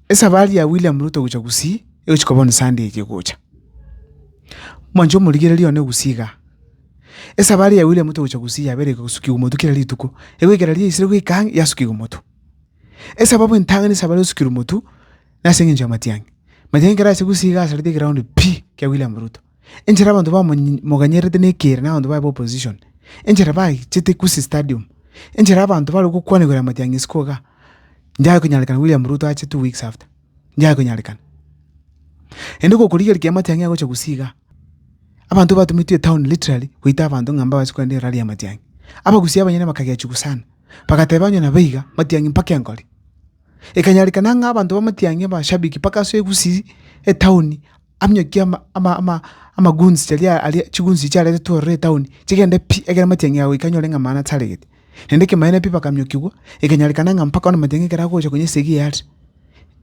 Esafari ya William Ruto gocha Gusii egochia koba bono Sunday eye egocha. Mwanche omorigereria one Gusii igaa. Esafari ya William Ruto gocha Gusii yabeire iko gosukigwa omotwe kera rituko. Egoikera riria yaisire goika ang'e yasukigwa omotwe. Esababu entang'ani ase abare gosukirwa omotwe, nase eng'encho ya matiang'i. Matiang'i ekero aise Gusii igaa asarete egeroundi pi kia William Ruto. Enchera abanto bamoganyerete nekeire na abanto baye ba opposition, enchera bachete Ikusi stadium, enchera abanto bare gokwana igoro ya matiang'isi ko igaa, nyaye konyarekana William Ruto ache two weeks after, nyaye konyarekana. Naende gokorigereria kiagera matiang'i agocha Gusii igaa, abanto batumetwe etown literally goita abanto ng'a mbabase kogenda erari ya matiang'i. Abagusii abanyene bakagechigwa sana, bagateba onye nabo iga, matiang'i mpaka enkori. Ekanyarekana ng'a abanto bamatiangie abashabiki mpaka ase egusii etaoni, aminyokie amaguns charia aria chiguns echi chiaretetwe ororo etaoni, chigende pi, ekero amatiang'i agoika anyore ng'a mana taregete. Naende ekemanyererio pi bakamiokigwa, ekanyarekana ng'a mpaka bono amatiang'i ekero agocha konya esegi eye are,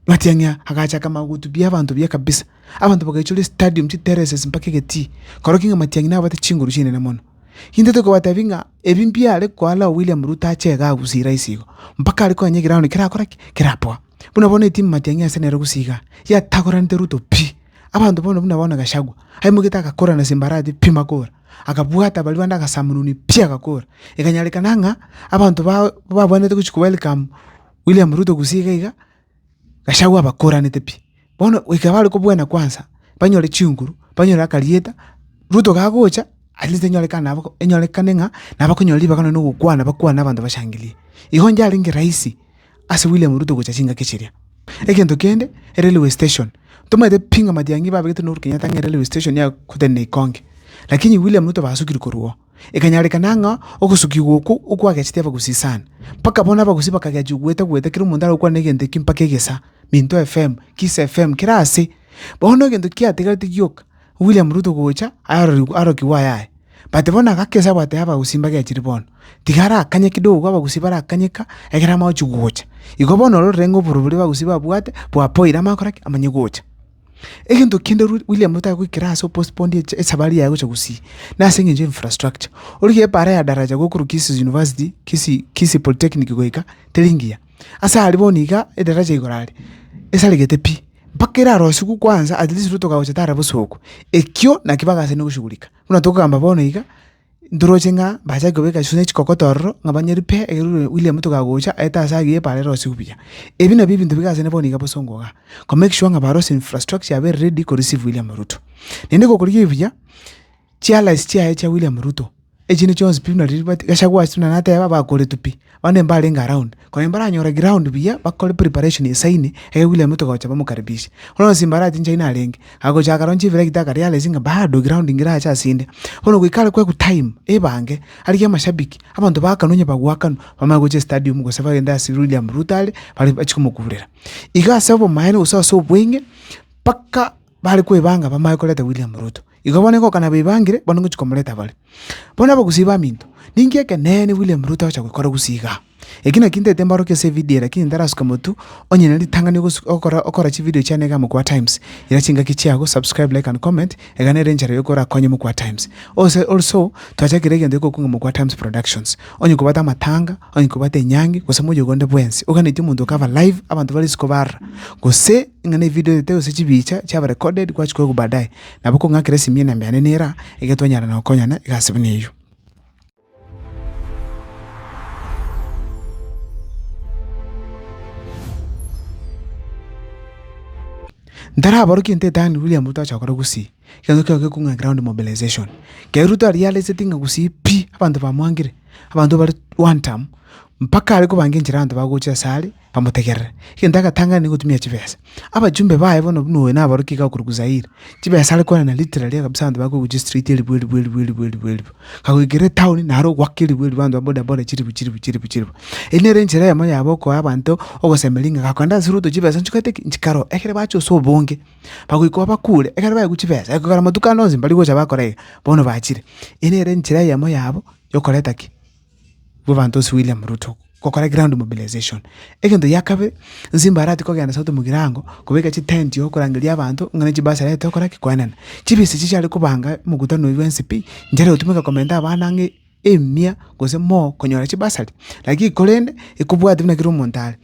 amatiang'i aya agachaka mana gohutubia abanto buya kabisa. Abanto bagaichorwa estadium, chitereses mpaka egetii, korokio ng'a amatiang'i nabwate chinguru chinene mono. Intwe tokobatebi ng'a. Ebi mbiare koala William Ruto ache iga agusira ase igo, mpaka are konya egeround kerakora ki? Kerapoa. Buna bono etimu matiang'i ase nere gose igaa, yatagoranete Ruto pi! Abanto bono buna bono Gachagua, aimoigete agakora na simbarati pi makora, akabwata baria bande agasamununi pi agakora. Ekanyarekana ng'a abanto ba babwenerete gochia ko welcome William Ruto gose iga iga. Gachagua abakoranete pi. Bono goika bare kobwena kwansa, banyore chinguru, banyore akarieta, Ruto kagocha, at least enyorekane nabo enyorekane ng'a nabo bakonyora ribaga nonya na ogokwana bakwane abanto bashangirie. Igo nchiarenge rahisi ase William Ruto gocha chingaki chiria. Egento kende, erailway station, tomaete pi ng'a matiang'i babegete na Uhuru Kenyatta ng'a erailway station nigo agotenena ikonge, lakini William Ruto basukire korwa oo. ekanyarekana ng'a ogosukigwa okwo okwagechete abagusi sana, mpaka bono abagusi bakagechwa ogweta-gweta kera omonto aragokwana na egento ekio mpaka egesa, Minto FM, Kiss FM, kera aase. Bono egento kiategereti gioka, William Ruto gocha arorigwe arokigwe aye aye. But bono agaka esabu ateba abagusi mbagechire bono, tiga arakanye kidogo abagusi barakanye ka, ekero amache gocha. Igo bono ororire ng'a oborobori abagusi babwate, bwapoire amanye gokora ki? Amanye gocha. Egento kende Ru- William Ruto agoikera ase opostpone echa- esabari yaye gocha Gusii, nase eng'encho ya infrastructure. Origie ebara ya daraja gokorwa Kisii University, Kisii, Kisii Polytechnic goika, teri ngiya. Ase aria bono iga edaraja igoro aria, esaregete pi, mpaka erarosigwe kwanza at least Ruto kagocha tara bosooku. Ekio naki bagachande goshughulika, buna tokogamba bono iga. Ntoroche ng'a mbachake kobeka chiswe ne chikokoto ororo, ng'a banyeri pi ekeregorio William tokagocha, aete ase agiya epaara erosie buya. Ebi nabio ebinto biga ase ne bono iga bosongo igaa, ko make sure ng'a barosie infrastructure yabo ere ready ko receive William Ruto. Naende gokorigia ebi buya, chiallies chiaye chia William Ruto, echinde chionsi pi buna riria bati Gachagua ase buna nateba, bakoretwe pi. Abande mbarenge around, korende mbaranyore ground buya bakore preparation esaine, erio William Ruto gocha bamokaribishe. Bono onsi mbarache inche ayio narenge, agochaka roche ebira rita akarealize ng'a bado ground ngerache ase inde. Bono goika are kwegwa time, ebange, arigie amashabiki, abanto baakana onye bagoakanwa, bamanye gocha estadium gose bagende ase William Ruto are, bare bachie komokurera. Iga ase obomaene gose ase obweng'e, mpaka. Bare kwebanga bamae koreta William Ruto. Igo bono igo okana bebangire bono ngochi komoreta bare. Bono abagusii baminto, ninki ekeneene William Ruto agocha goikora gusii igaa? Eki naki ntaete mborokie ase evidio eye lakini ntarasuke motu, onye na ritang'ani ogosu ogokora okora chividio chiane igaa Mokua Times. Ira chingaki chiago, subscribe, like and comment, egana ere enchera yokorakonye Mokua Times. Ose also, twachakire egento gekokuga Mokua Times Productions. Onye kobwate amatanga, Onye kobwate enyangi gose moyogo onde bwensi oganetie omonto okaba live abanto bare isiko barora gose ng'a nevidio oyete gose chibicha chiaba recorded gwachikwa igwa baadaye nabo okong'akera esimi enamba yane niyo eraa iga twanyara nokonyana egasi buna eyio. Ntaraborokie ntetang'ani William Ruto ache gokora gusii. Egencho kiao gekong'aa ground mobilization. Keri Ruto aria areseti ng'a gusii pi, abanto bamwangire, abanto bare one term, mpaka are kobanga enchera abanto bagocha ase are, bamotegerere. Egento agatang'ani na gotumia chibesa. Abachumbe baye bono buna oyo nabaruti iga okorokwa Zaire, chibesa are kwanana literally iga kabisa abanto bakogochia straight eribu eribu eribu eribu eribu eribu. Kagoikera etown naro ogwaka eribu eribu abanto ba boda boda chiribu chiribu chiribu chiribu. Eyio nere enchera eyemo yabo okoa abanto ogosemeria ng'a gakoenda ase Ruto chibesa nchigwete ki? Nchikaroo. Ekere bacha ase obonge. bagoika obakuure, ekero baegwa chibesa, ekogera amatuko ande onsi mbari gocha bakora iga, bono bachire. Eye nere enchera eyemo yabo yokoreta ki? Bw'abanto ase William Ruto, gokora ground mobilization. Egento gia kabere, nsi mbaratie kogenda sauti mugirango, kobeka chitenti okorangeria abanto ng'a ne chibasari aye tokora ki? Koenana. Chibesa echi chiare kobanga omokutano oyio bwa mcp, nchara egotumeka komenta abana ang'e emia gose moo konyora chibasari. Lakini korende, ekobwate buna kera omonto are.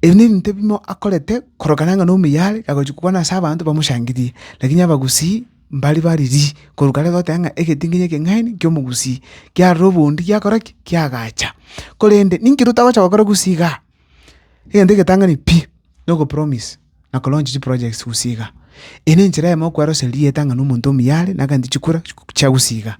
Ebi nebinto bimo akorete korokana ng'a nomuya are agochia kwana ase abanto bamoshangirie, lakini abagusii mbari baririi korwa kare goteba ng'a egetingenyo ekeng'aini ki'omogusii kiarora obondi giakora ki? Kiagacha. Korende ninki rotagocha gokora gusii igaa? Egento egetang'ani pi, nogopromise. na ko launch chi projects gose iga. Eye ne enchera eyemo okweroseria erieta ng'a na omonto omuya are na egento chikura chia gose iga.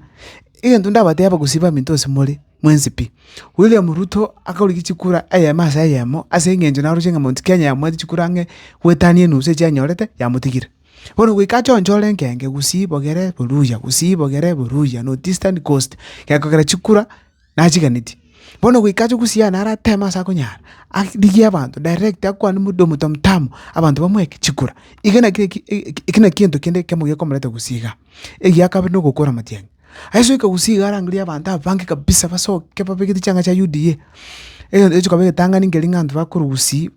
Egento ndabateba gose baminto ase more, mwensi pi. William Ruto akorigia chikura eyemo ase eyemo ase eng'encho naroche ng'a Mount Kenya yamwati chikura ang'e goetania enusu echi anyorete yamotigire. Bono goika achonche ore enkenge gusii bogere boruya gusii bogere boruya north eastern coast gekogera chikura. nachiganeti. Bono goika ache gosiana naro ateme ase akonyara, arigie abanto direct akwane mode omonto omotambe, abanto bamoeke chikura. Eke naki eki eki eki naki egento kende ekiamo gekomoreta gosii igaa. Egiya ya kabere na ogokora amatiang'i, aisoika gosii igaa arangire abanto abange kabisa basoke babegete chianga chia UDA, egento ekio chikaba egetang'ani nkeria ng'a abanto bakorwa gosii.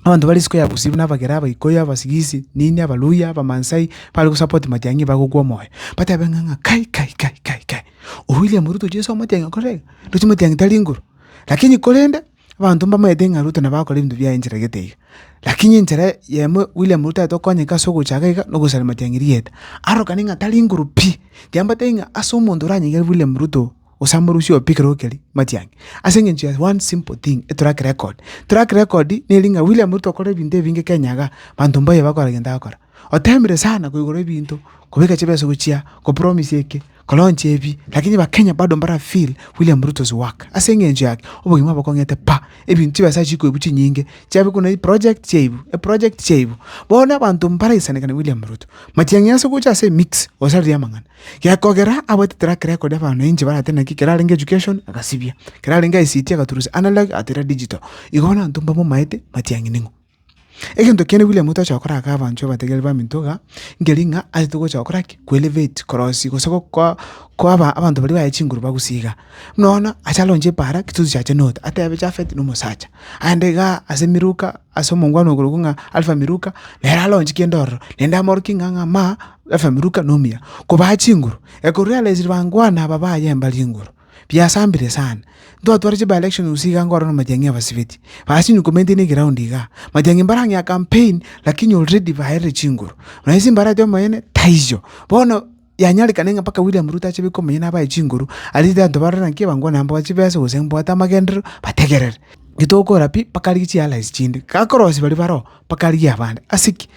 Abanto ba risuko ya bosio buna abagera, abaikuyu, abasigisi, nini, abaluhya, abamansai, bare gosapoti matiang'i nigo bagokwa omoyo, batebe ng'a ng'a kai kai kai kai kai, oyo William Ruto Jesu omotiang'e okore iga, ndoche motiang'e tari nguru. Lakini korende, abanto mbamaete ng'a Ruto nabo akore ebinto biaye encheragete iga, lakini enchera eyemo William Ruto aete okonyeka ase ogochaka iga, nogosaria matiang'i rieta. Aroro kane ng'a tari nguru pi, tiambatebi ng'a ase omonto oranyegere William Ruto. gose amorusia oyo pi ekero keria matiang'i. Ase eng'encho ya one simple thing, etrack record. Track record neri ng'a William Ruto okorire ebinto ebinge Kenya igaa, banto mbaye bakora egento agokora. Oteemire sana korwa igoro ebinto, kobeka chibesa gochia, kopromise eke, kolaunch ebi, lakini abakenya bado mbara feel William Ruto's work. Ase eng'encho yaki, obogima bokong'ete pa, ebinto chibesa chikwe ebu chinyinge, chiabe buna eproject chiabu, eproject chiabu. Bono abanto mbaraisanekana William Ruto. Matiang'i ase gocha ase emix, gose arigie amang'ana. Gekogera abaetete rake reko ri'abanto na inche barate naki, kerarenge education agasibia, kerarenge ICT agaturusia, analog atera digital. Igo bono abanto mbamomaete matiang'i ning'o. Egento kiane William Ruto achaka gokora aka abanto abategereri baminto iga, nkeri ng'a aete gocha gokora ki? Ko elevate korosia gose gokoa koa aba abanto baria baye chinguru bagusie iga. Buna bono acha aronche epaara, ki tozi chiacha note, atebe Japhet na omosacha, aende igaa ase emeruka. ase omongwana oyo korokwa ng'a Alfa Miluka, nere aronchie kende ororo, naende amorokie ng'a ng'a ma Alfa Miluka nomuya. Kobaa chinguru, ekorwa riarenge chiribangwana aba baye mbari enguru, biasambire sana. Ntwatware chiba election gose iga nkorora matiang'i abasibeti, basi inwe komenteinie eground igaa, matiang'i mbarang'ea campaign lakini already baerire chinguru. Nonye ase mbarete omonene, taiyo. Bono. yanyarekane ng'a mpaka William Ruto ache baike omonye nabae chinguru, aria tari anto barore naki ebangwana yabo bache besa gose mbwate amagenderero, bategerere. Gitokora pi mpaka arigie chi allies chinde, gakorosia baria baroo mpaka arigie abande. Ase ki?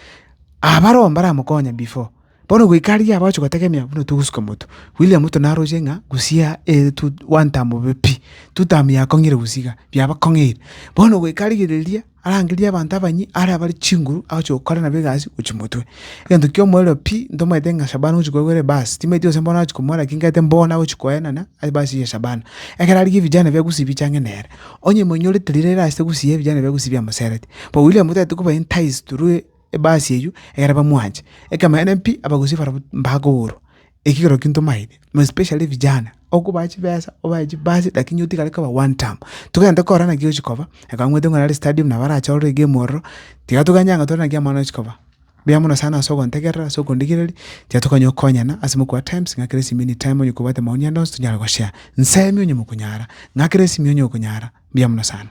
Abaroo mbaramokonye before, bono goika aria abagochi gotegemea buna togosuka motwe. William Ruto naroche ng'a gusii ere two one term bobe pi, two term yakong'ire gusii iga, biabakong'eire. Bono goika arigereria. arangerie abanto abanyia are abare chinguru agochia gokora nabo egasi gochia motwe. Egento ki'omoerio pi, ntomanyete ng'a Shabana ogochia koigwa ebaasi, timanyeti gose mbono agochia komoa lakini nkaete mbono agochia koenana ase ebaasi ya Shabana. Ekero arigia ebijana bia Gusii bicha ang'e nere, onye emoinyorete riria rire ase Gusii ebijana bia Gusii biamoserete. Bo William otagete koba enticed through ebaasi eywo ekere bamwanche. Ekemanyereria pi, Abagusii barabwo mbakoborwa. ekegororo ki ntomaete, more especially vijana, okobae chibesa, obae chibasi lakini otigare koba one term. Togende korora naki ochi koba, ekabamwete ng'a nare stadium nabo arachore egemu ororo, tiga toganye ang'e tore naki amang'ana ochi koba. Mbuya mono sana ase ogontegerera ase okondigereria, tiga tokonywa gokonyana ase mokobua times ng'a kera esimi anytime onye kobwate maoni ande onsi tonyare goshare. Nsemi onye mokonyara, ng'a kera esimi onye okonyara. Mbuya mono sana.